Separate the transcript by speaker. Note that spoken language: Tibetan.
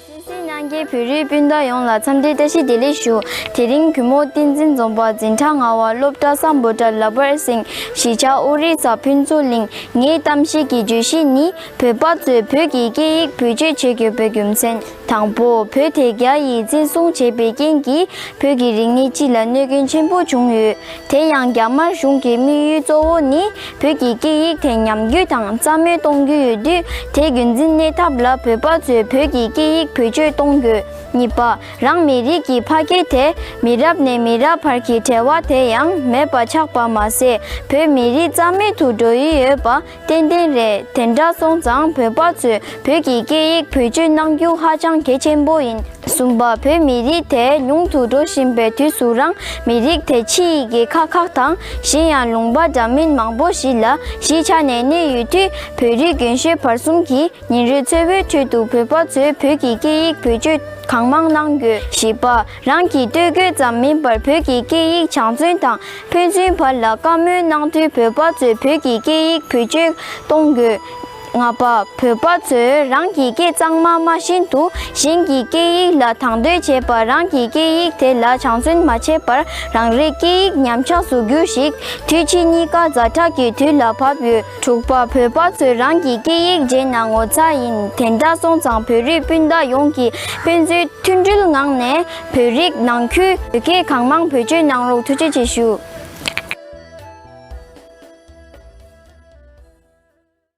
Speaker 1: ཤེས་བྱའི་སྙན་རྒྱའི་བོད་རིགས་སྤུན་ཟླ་ཡོངས་ལ་འཚམས་འདྲིའི་བཀྲ་ཤིས་བདེ་ལེགས་ཞུ། དེ་རིང་གུས་མོ་བསྟན་འཛིན་རྫོང་པ་འཛིན་གྲྭ་ལྔ་བ་སློབ་གྲྭ་ས་འབོ་གྲྭ་ལ་བར་གསེང་གཞིས་ཆགས་དབུ་རིག་ས་ཕུན་ཚོགས་གླིང། ངའི་གཏམ་བཤད་ཀྱི་བརྗོད་གཞི་ནི་བོད་པ་ཚོས་བོད་ཀྱི་སྐད་ཡིག་བེད་སྤྱོད་བྱེད་དགོས་པའི་རྒྱུ་མཚན། དང་པོ། བོད་དེ་རྒྱ་ཡིས་བཙན་བཟུང་བྱས་པའི་རྐྱེན་གྱིས་བོད་ཀྱི་རིག་གནས་སྤྱི་ལ་གནོད་སྐྱོན་ཆེན་པོ་བྱུང་ཡོད། དེ་ཡང་རྒྱ་དམར་གཞུང་གི་དམིགས་ཡུལ་གཙོ་བོ་ནི་བོད་ཀྱི་སྐད་ཡིག་དེ་ཉམས་རྒྱུ་དང་རྩ་མེད་གཏོང་རྒྱུ་ཡོད་དུས་དེ་རྒྱུན་འཛིན་གནས་ཐབས་ལ་བོད་པ་ཚོས་བོད་ཀྱི་སྐད་ཡིག་བེད་སྤྱོད་གཏོང་དགོས། གཉིས་པ། རང་མི་རིགས་ཀྱི་ཕ་སྐད་དེ་མི་རབས་ནས་མི་རབས་བར་གྱི་བྲལ་བ་དེ་ཡང་མེད་པ་ཆགས་པ་མ་ཟད་བོད་མི་རིགས་རྩ་མེད་དུ་འགྲོ་ཡི་ཡོད་པ། ཏན་ཏན་རེད་དེ་འདྲ་སོང་ཙང་བོད་པ་ཚོས་བོད་ཀྱི་སྐད་ཡིག་བེད་སྤྱོད་གནང་རྒྱུ་ཧ་ཅང་གལ་ཆེན་པོ་ཡིན་གསུངས་པ་བོད་མི་རིགས་དེ་ཉུང་དུ་འགྲོ་བཞིན་པའི་དུས་སུ་རང་མི་རིགས་དེ་ཕྱི་ཡི་རྒྱལ་ཁག་ཁག་དང་གཞན་ཡང་ལུང་པ་འདྲ་མིན་མང་པོ་ཞིག་ལ་གཞིས་ཆགས་ནས་གནས་ཡོད་དུས་བོད་རིགས་རྒན་ཤོས་བར་གསུམ་གྱིས་ཉིན་རེ་འཚོ་བའི་ཁྲོད་དུ་བོད་པ་ཚོས་བོད་ཀྱི་སྐད་ཡིག་བེད་སྤྱོད་གང་མང་གནང་དགོས་ཞེས་པ་རང་གིས་སྟོད་གོས་ཙམ་མིན་པར་བོད་ཀྱི་སྐད་ཡིག་བྱང་བཙུན་དང་ཕན་ཚུན་བར་ལ་བཀའ་མོལ་གནང་དུས་བོད་པ་ཚོས་བོད་ཀྱི་སྐད་ཡིག་བེད་སྤྱོད་གཏོང་དགོས། ལྔ་པ། བོད་པ་ཚོས་རང་གི་སྐད་གཙང་མ་སྨྲ་བཞིན་དུ་གཞན་གྱི་སྐད་ཡིག་ལ་དང་དོད་བྱེད་པ་རང་གི་སྐད་ཡིག་དེ་ལ་བྱང་བཙུན་མ་བྱེད་པར་རང་རེའི་སྐད་ཡིག་ཉམས་ཆགས་སུ་གྱུར་ཞིག་དུས་ཕྱིས་གཉིས་ཀ་རྫ་བྲག་གི་དུས་ལ་བབ་ཡོད། དྲུག་པ། བོད་པ་ཚོས་རང་གི་སྐད་ཡིག་བརྗེད་ན་ངོ་ཚ་ཡིན་དེ་འདྲ་སོང་ཙང་བོད་རིགས་སྤུན་ཟླ་ཡོངས་ཀྱིས་དཔེ་མཛོད་མཐུན་སྒྲིལ་ངང་ནས་བོད་རིགས་ནང་ཁུལ་བོད་སྐད་གང་མང་བེད་སྤྱོད་གནང་རོགས་ཐུགས་རྗེ་ཆེ་ཞུ།